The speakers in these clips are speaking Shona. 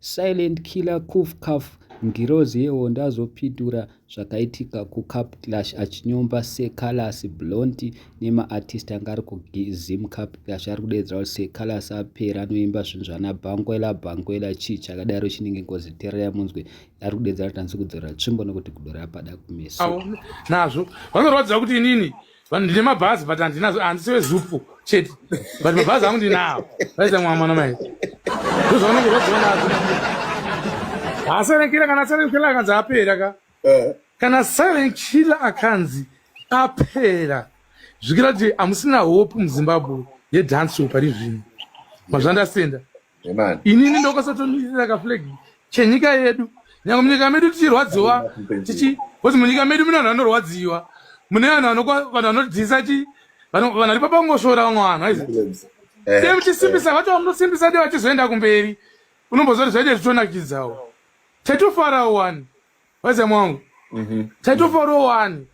Silent killer Kuf Kaf Ngirozi yehondo azopitura zvakaitika kuCape Clash achinyomba seCallas Blonty nemaartist anga ari kuZimCape Clash ari kudeedzera kuti seCallas apera anoimba zvinhu zvana Bangwela Bangwela chii chakadaro chinenge ngozi tererai munzwe ari kudeedzera kuti anzi kudzorera tsvimbo nekuti kudora pada kumeso nazvo vanorwadza kuti inini vanhu ndine mabhazi but handinazo handisi wezupu chete but mabhazi angu ndinawo vaita mwa mwana mai ndozvaunenge zvadzionazo ha silent killer kana silent killer akanzi apera ka eh. kana silent killer akanzi apera zvikira kuti hamusina hope muzimbabwe yedance pari zvino mazvandasenda inini ndokasatondirira kaflag chenyika yedu nyangwe munyika medu tichirwadziwa tichi kuti munyika medu mune vanhu vanorwadziwa mune vanhu vanokwa vanhu vanodhisa chi vanhu vanhu vari papangosvora vamwe vanhu aizi eh, same chisimbisa eh. vacho vamunosimbisa de vachizoenda kumberi unombozoti zvaite zvitonakidzawo tatofara wani Waze mwangu. Mhm. Mm Taitofaro wani.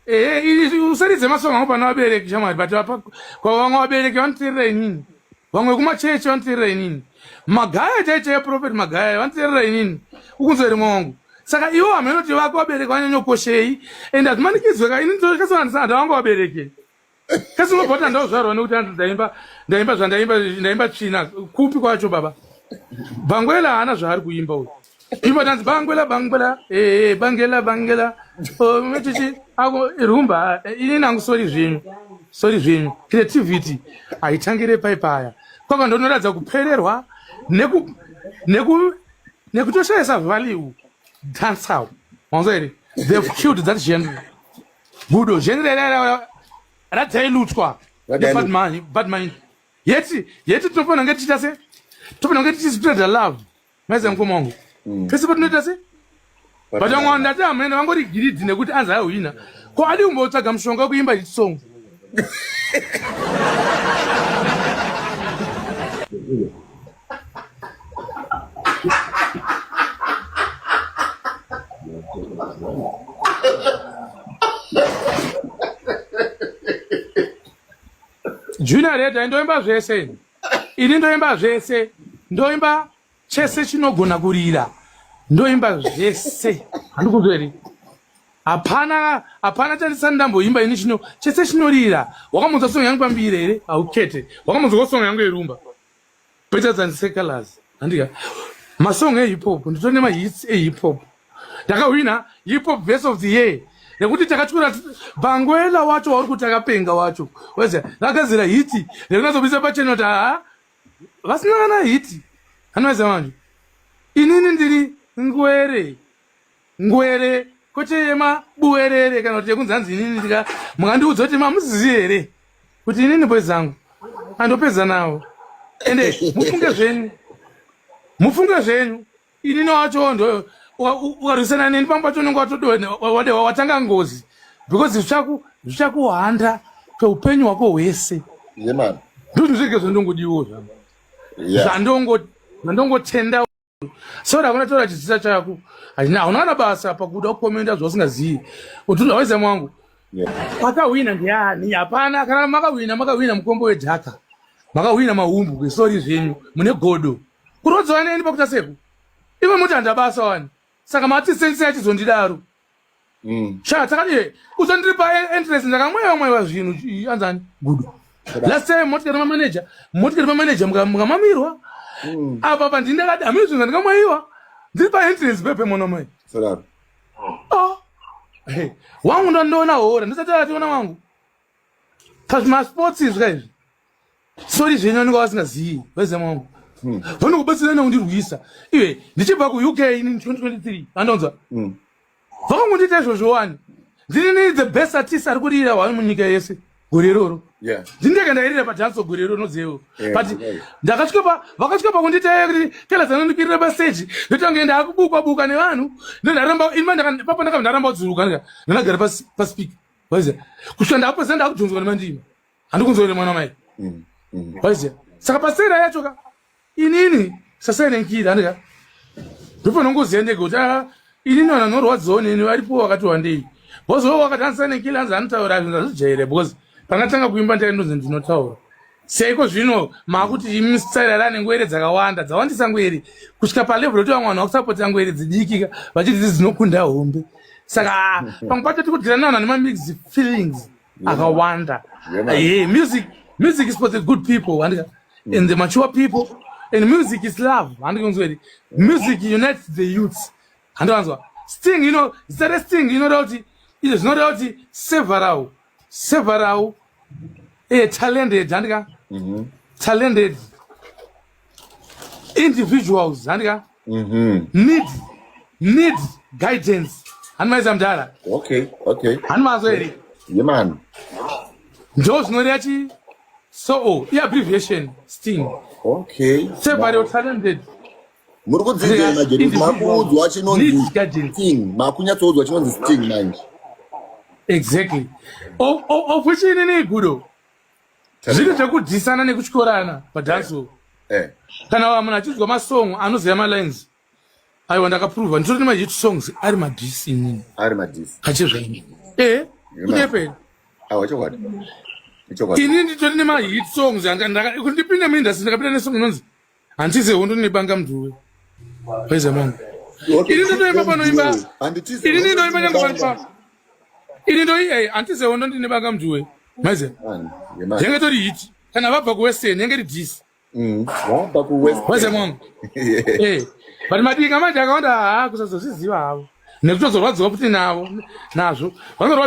Eh, eh usaridze masongo angu pana vabereki shamwari but apa kwa vamwe vabereki vanoteerera inini. Vamwe kuma church vanoteerera inini. Magaya chaicha ya prophet magaya vanoteerera inini. Ukunzwa rimwe wangu. Saka iwo ameno tivako vabereki vanyanyokoshei and azvimanikidzwe ka inini ndosvika sana ndisana ndavanga vabereki. kasi unobva kuti andauzvarwa nekuti anzi ndaimba ndaimba zvandaimba ndaimba tsvina kupi kwacho baba bangwela haana zvaari kuimba uyu imba tanzi bangwela bangwela ee bangela bangela metichi ako rumba ini nangu sori zvenyu sori zvenyu creativity haitangire pai paya kwaka ndonoratidza kupererwa neku neku nekutoshaisa value dancehall manzwa here they've killed that genre gudo zvenrerera radzailutswa badman badman yeti yeti tinofanira kunge tichiita se tinofanira kunge tichizvitoita love maiziva mukoma wangu mm. pese patinoita se but vamwe vanhu ndati hamene vangori giridhi nekuti anzi ahwina ko adi kumbotsvaga mushonga wekuimba hit song junior reda ndoimba zvese ini ndoimba zvese ndoimba chese chinogona kurira ndoimba zvese handikuzveri hapana hapana chandisani ndamboimba ini chino chese chinorira wakamunzwa songo yangu pambiri here haukete wakamunzwa kosongo yangu yerumba Better than secular's. Handika. Masong e hip hop. Ndito nema hits e hip hop. Daka wina hip hop best of the year. Nekuti takachukura bangwela wacho wauri kuti akapenga wacho. Weze. Daka zira hiti. Nekuna zobisa pa channel ta. Vasina kana hiti. Hanweza manje. Inini ndiri ngwere. Ngwere kwete yema buwerere kana kuti yekunzi hanzi inini ndika mukandiudza kuti mamuzizi here kuti inini boys zangu andopedza nawo ende mufunge zvenyu mufunge zvenyu inini wacho ndo ukarwisana neni pamba pacho unenge watode watanga ngozi because zvichaku zvichakuhanda kweupenyu hwako hwese ndozvizvege zvandongodiwo zvandongotenda Sorry hakuna taura chizisa chako. Haina hauna kana basa pakuda kukomenda zvausingazivi. Utunda waiza mwangu. Makahwina ndiani? Hapana kana makahwina makahwina mukombo wedhaka. Makahwina mahumbu kwesori zvenyu mune godo. Kurodzwa neni pakuta seku. Iwe muti handabasa wani. Saka mati sense yachizondidaro. Mm. Sha takati usandiri pa entrance ndakamweva mweva zvinhu anzani good. Last time motikari manager, motikari manager mukamamirwa. Mm. Apa pa ndinda kati amiri zvinhu ndikamwaiwa. Ndiri pa entrance pepe mwana mai. Salad. Oh. Hey, wangu ndo ndoona hora, ndisati ationa wangu. Kazvima sports izvi kaizvi. sori zvenyu anenge vasingazivi vezemo wangu hmm. vanokubatsirana kundirwisa iwe ndichibva kuuk ini 2023 anonzwa hmm. vakangondiita izvozvo wani ndini ni the best artist ari kurira hwani munyika yese gore iroro ndindeka ndairira padanso gore iroro nozevo but ndakasvika vakasvika pakunditaya kuti kela dzanondikwirira paseji ndotange ndaakubukwa buka nevanhu ndaramba inipapa ndakabva ndaramba kudzurukanga ndanagara paspika kusvika ndakapedzisa ndakudhonzwa nemandima handikunzwa ine mwana mai mm, mm. waiziva saka pasera yacho ka inini sasainenkiira andika ndopano ngoziya ndege kuti a ah, inini vanhu vanorwadziwa neni varipo vakati wandei bozoo wakati andisainenkiira anzi anotaura zvinhu azvijaire because pangatanga kuimba ndaindonzi ndinotaura seiko zvino maakuti imi sitsairarane ngwere dzakawanda dzawandisa ngwere kusvika palevel yoti vamwe vanhu vakusapotera ngwere dzidikika vachiti dzi dzinokunda hombe saka pamwe pacho tiri kudyirana vanhu vane mamix feelings akawanda yeah, music music is for the good people and, and the mature people and music is love handikunzweri music unites the youths handiwanzwa sting you know zita resting inoda kuti izvo zvinoda kuti several several eh, talented handika mm -hmm. talented individuals handika mhm. need need guidance hanimaiza mdara okay okay hanimazo here yemani ndo zvinoreva chi soo i abbreviation sting okay sevario talented muri kudzidza majedu makuudzwa chinonzi sting makunyatsoudzwa chinonzi sting manje exactly of which inini gudo zviri zvekudyisana nekutyorana padhansi uku eh. kana vamuna achidzwa masong anoziva malines aiwa ndakaprova ndisori nemahit songs ari madhisi inini ari madhisi achizvaini e eh, kunyepei awa chokwadi ini nditori nemahit songs kundipinda muindastry ndakapinda nesong inonzi Handitize hondo nebanga mdhuwe. Waize mama. Ini ndotoimba panoimba. Handitize. Ini ndoimba nyanga panoimba. Ini ndoi eh handitize hondo ndine banga mdhuwe. Maize. Yenge tori hit. Kana vabva ku Western yenge ri dis. Mm. Vabva ku Western. Waize mama. Eh. But madinga manje akawanda haa kusazozviziva havo. Nekutozorwadziwa futi navo nazvo. Vanorwa